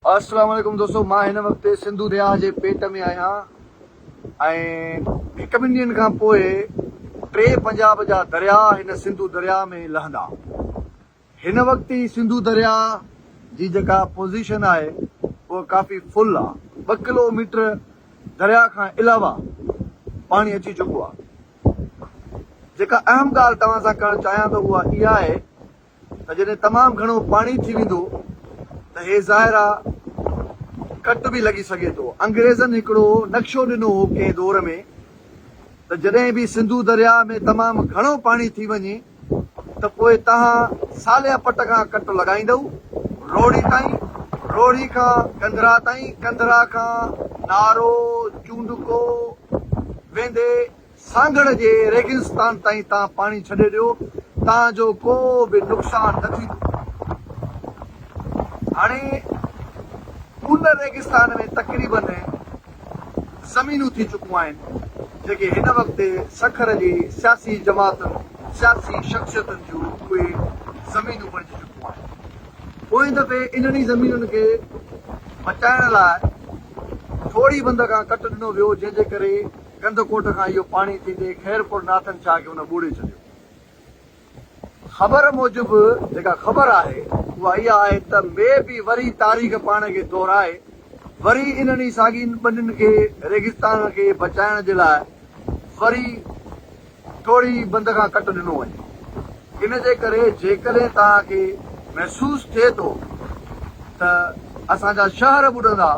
السلام عليڪم دوستو مان هن وقت سنڌو درياهه جي پيٽ ۾ آهيان ۽ هڪ ٻن ڏينهن کان پوء ٽي پنجاب جا درياهه هن سنڌو درياهه ۾ لهندا هن وقت هي سنڌو درياهه جي جيڪا پوزيشن آهي اها ڪافي فل آ ٻه ڪلو ميٽر درياهه کان علاوه پاڻي اچي چڪو آ جيڪا اهم ڳالهه توهان سان ڪرڻ چاهيان ٿو اها اها آهي ته جڏهن تمام گهڻو پاڻي ٿي ويندو ته هي ظاهر آ ڪٽ به لڳي سگهي ٿو. انگريزن هڪڙو نقشو ڏنو هو ڪنهن دور ۾ ته جڏهن به سنڌو درياء ۾ تمام گهڻو پاڻي ٿي وڃي ته پوء توهان ساليا پٽ کان ڪٽ لڳائيندؤ روهڙي تائين، روهڙي کان ڪنڌرا تائين، ڪنڌرا کان نارو، چونڊڪو، ويندي سانگهڙ جي ريگستان تائين تان پاڻي ڇڏي ڏيو تان جو ڪو به نقصان نه ٿيندو. هاڻي ان ريگستان ۾ تقريباً زمينون ٿي چڪون آهن جيڪي هن وقت سکر جي سياسي جماعتن، سياسي شخصيتن جون اهي زمينون بڻجي چڪون آهن. پوئين دفعي انهن ئي زمينن کي بچائڻ لاء ٿوري بند کان ڪٽ ڏنو ويو جنهن جي ڪري ڪنڌڪوٽ کان اهو پاڻي ٿيندي خيرپور ناٿن شاهه کي هن ٻوڙي ڇڏيو. خبر موجب جيڪا خبر آهي اها اها آهي ته مي بي وري تاريخ پاڻ کي دهرائي وري انهن ئي ساڳين ٻنين کي ريگستان کي بچائڻ جي لاء وري ٽوڙي بند کان ڪٽ ڏنو وڃي. ان جي ڪري جيڪڏهن توهان کي محسوس ٿئي ٿو ته اسان جا شهر ٻڏندا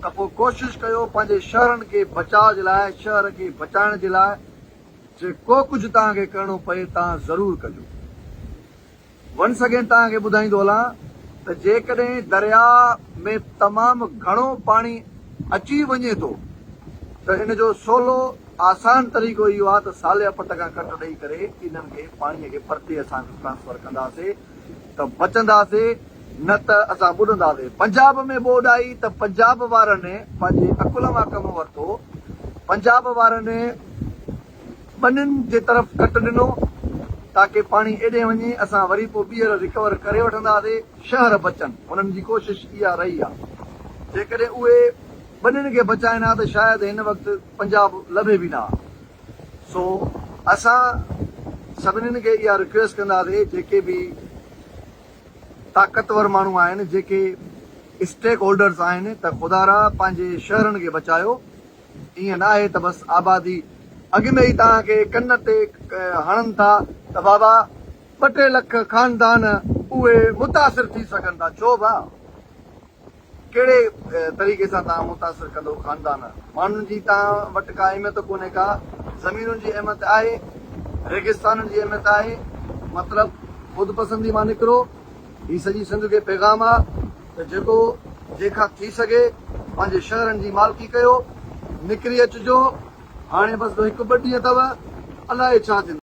ته پوء ڪوشش ڪيو پنهنجي شهرن کي بچاء جي لاء شهر کي بچائڻ جي لاء جي ڪو ڪجهه توهان کي ڪرڻو پئي توهان ضرور ڪجو. ونس اگين توهان کي ٻڌائيندو هلان ته جيڪڏهن درياء ۾ تمام گهڻو پاڻي اچي وڃي ٿو ته ان جو سولو آسان طريقو اهو آهي ته ساليا پٽ کان ڪٽ ڏئي ڪري انهن کي پاڻي کي پرتي اسان کي ٽرانسفر ڪنداسي ته بچنداسي نه ته اسان ٻڏنداسي پنجاب ۾ ٻوڏ آئي ته پنجاب وارن پنهنجي عقل مان ڪم ورتو پنجاب وارن ٻنين جي طرف ڪٽ ڏنو تاڪه پاڻي ايڏي وڃي اسان وري پو ٻيهر ريڪور ڪري وٺنداسي شهر بچن هنن جي ڪوشش اها رهي آ جيڪڏهن اهي ٻنين کي بچائين ها ته شايد هن وقت پنجاب لڀي به نه ها سو اسان سڀنين کي اها رڪويسٽ ڪنداسي جيڪي به طاقتور ماڻهو آهن جيڪي اسٽيڪ هولڊرز آهن ته خدارا پنهنجي شهرن کي بچايو ائين ناهي ته بس آبادي اڳ ۾ ئي توهان کي ڪن تي هڻن ٿا ته بابا ٻه ٽي لک خاندان اهي متاثر ٿي سگهن ٿا ڇو ڀاء ڪهڙي طريقي سان توهان متاثر ڪندو خاندان ماڻهن جي توهان وٽ ڪا اهميت ڪونهي ڪا زمينن جي اهميت آهي ريگستانن جي اهميت آهي مطلب خودپسندي مان نڪرو هي سڄي سنڌ کي پيغام آ ته جيڪو جنهن کان ٿي سگهي پنهنجي شهرن جي مالڪي ڪيو نڪري اچجو هاڻي بس هڪ ٻه ڏينهن اٿو الائي ڇا ٿيندو.